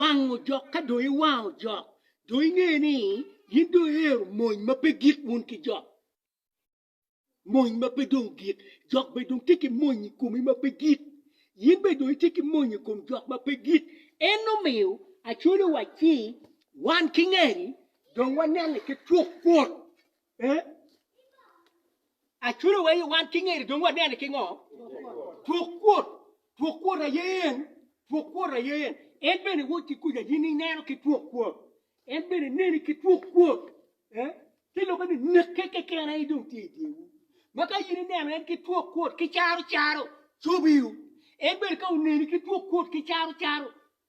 wango jok ka dong iwango jok dong inge ni in dong iero mony ma pe gik wun ki jok mony ma pe dong gik jok be dong tye ki mony i komi ma pe gik in be dong itye ki mony i kom jok ma pe gik en omiyo acwalo wa ci wan ki ngeri dong wanene ki twok kwot Aculo wa aye wan ki ngeri dong wanene ki ngo? Twok kwot, twok kwot aye en, twok kwot aye en. En bene wod ki kuja yin ineno ki twok kwot. En bene neni ki twok kwot. Eh? Ti loko ni neke keken aye dong tye i dyewu. Ma ka yin ineno en ki twok kwot ki caro caro cobiu. En bene ka oneni ki twok kwot ki caro caro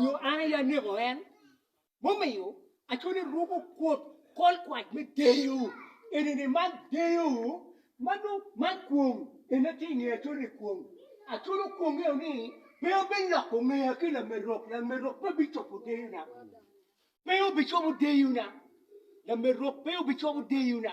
nyo an aye aneko en, mumiyo acwalo eruku kwot kolkwac me deyo, enini man deyo ma nongo man kwong ene tye i nge acwalo ni kwong, acwalo kwong eo ni pe obiloko ngeya ki lamerok, lamerok pe bicobo deyona, pe obicobo deyona, lamerok pe obicobo deyona,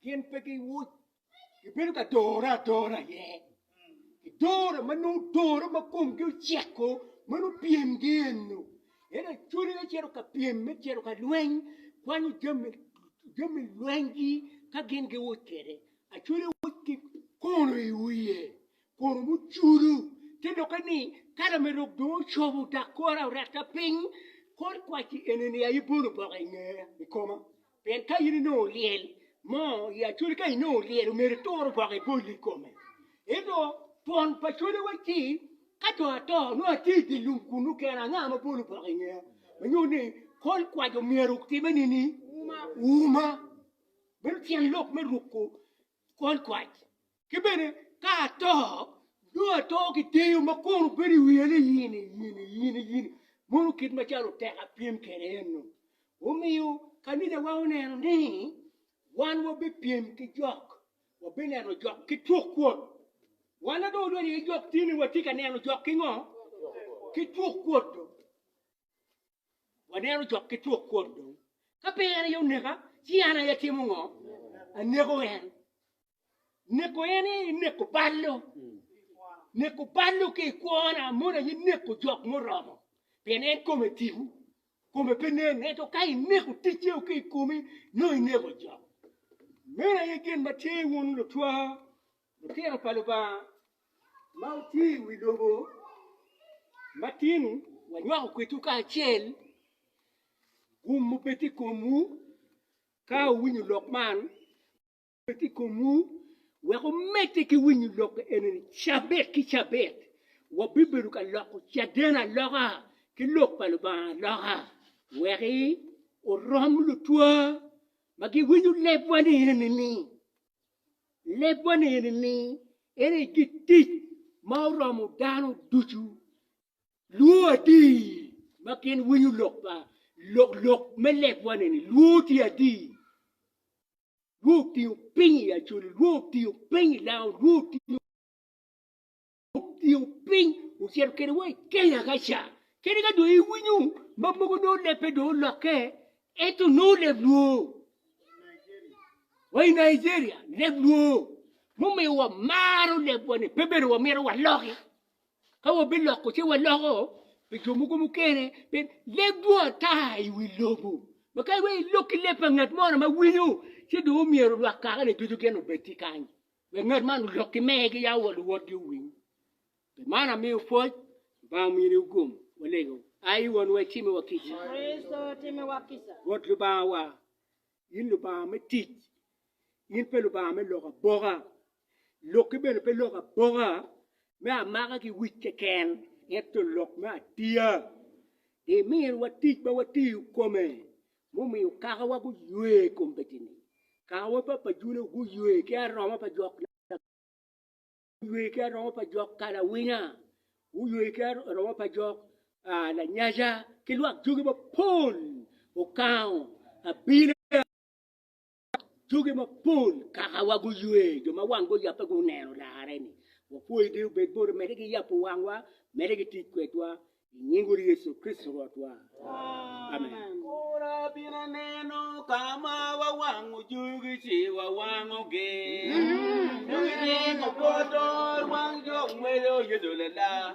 Pien pe giwoc, gibedo ka dore adora aye. Gidoro ma nongo doro ma komgi oceko, ma nongo pyemgi eno. Ento acwali me cito ka pyem, me cito ka lweny, kwanyo jami jami lwenygi ka gin giwoc kwede. Acwali woc ki kono i wiye, kono mucudu. Te lokke ni, ka lamerok dong ocobo dok kore orette piny, kor kwaci eni-ni aye bolo oboke i ngeya, i koma. Pien ka in inongo lyel mo i acoli, ka inongo lyel omyero itur gwoko iboli i kome. Ento twon pa cwale waci, ka dong ato, nongo atye i dye lum kunnu kena, anga ma bolo gwoko i ngeya? Ma nyuto ni kol kwaco omyero otime nini? Uma. Meno tyen lok me ruko kol kwac. Ki bene, ka ato, nongo ato ki deyo ma kono bedo i wiya ni yini, yini, yini, yini. Mono kit macalo tek apyem kede eno. Omiyo, kanicawa oneno ni wan wabipyem ki jok, wabineno jok ki cuk kwot. Wan na dong odonyo iye jok tye ni watye ka neno jok ki ngo? Ki cuk kwot do. Waneno cok ki cuk kwot dong. Ka pe en aye oneka, ci an aye atimo ngo? Aneko en. Neko en aye ineko ballo. Neko ballo ki i kwona, mono aye neko jok muromo. Pien en kome tiku, kome pe nen. Ento ka ineko ticeo ki i komi, nongo ineko jok. Meno aye gin ma tye wun lutwa Lutino pa Lubanga ma wutye i wi lobo matino, wanywako kwedwu kacel gum mubed i komwu ka wuwinyo lok man, bed i komwu wek wumedde ki winyo lok eni-ni cabit ki cabit. Wabibedo ka loko caden aloka ki Lok pa Lubanga aloka wek orom lutwa ma giwinyo lebwa ni enini. Leb wa ni eni ni, en aye git tic ma oromo dano ducu. Lwor adi ma gin winyo lok pa lok lok me leb wa ni eni? Lwor tye adi? Lwor otingo piny i Acholi, lwor otingo piny i Lango, lwor otingo Obiyo piny ocito kede wa i Kenya ka ca. Kadi ka dong iwinyo ma mogo nongo leb pe dong olokke, ento nongo leb lwoo. Wa i Nigeria, leb lwoo. Mumiyo wamaro lebwa-ni, pe bedo wamito waloki. Ka wabiloko ci waloko pi jo mogo mukene, pien leb dwong ata i wi lobo. Ma kadi bed ilok ki leb pa ngat mo ni ma winyo, ci dong omyero lwak kaka-ni ducu gin obed ki kany. Bed ngat man olok ki mer ki yam wa luwotgi owiny. Pi man amiyo pwoc, Lubanga omiyo ni ogum, walego, ayi wonwa icime wa kica. Bot Lubanga wa, in Lubanga me tic, in pe Lubanga me lok aboka. Lok ki bene pe lok aboka me amaka ki wic keken, ento lok me atiya. Di miri wa tic ma watiyo kome, Mumiyo kakawa guywe i kom betini, kakawa pa pajune guywe ki aroma pa jok nagge, guywe ki aroma pa jok kalawinya, guywe ki aroma pa jok lanyaca, ki lwak jogi mapol okango abina. Joge mapol kaka wa guywe, jo ma wang guyape guneno larre ni. Wapwoyi Dee obed boti mede ki yabo wangwa, mede ki tic kwedwa i nying Wod Yecu Kricito Rwotwa. Amen. Kura bino aneno ka ma wa wango joge ci wa wango gi. Joge ringo poto wang jo ngweyo Yecu lala.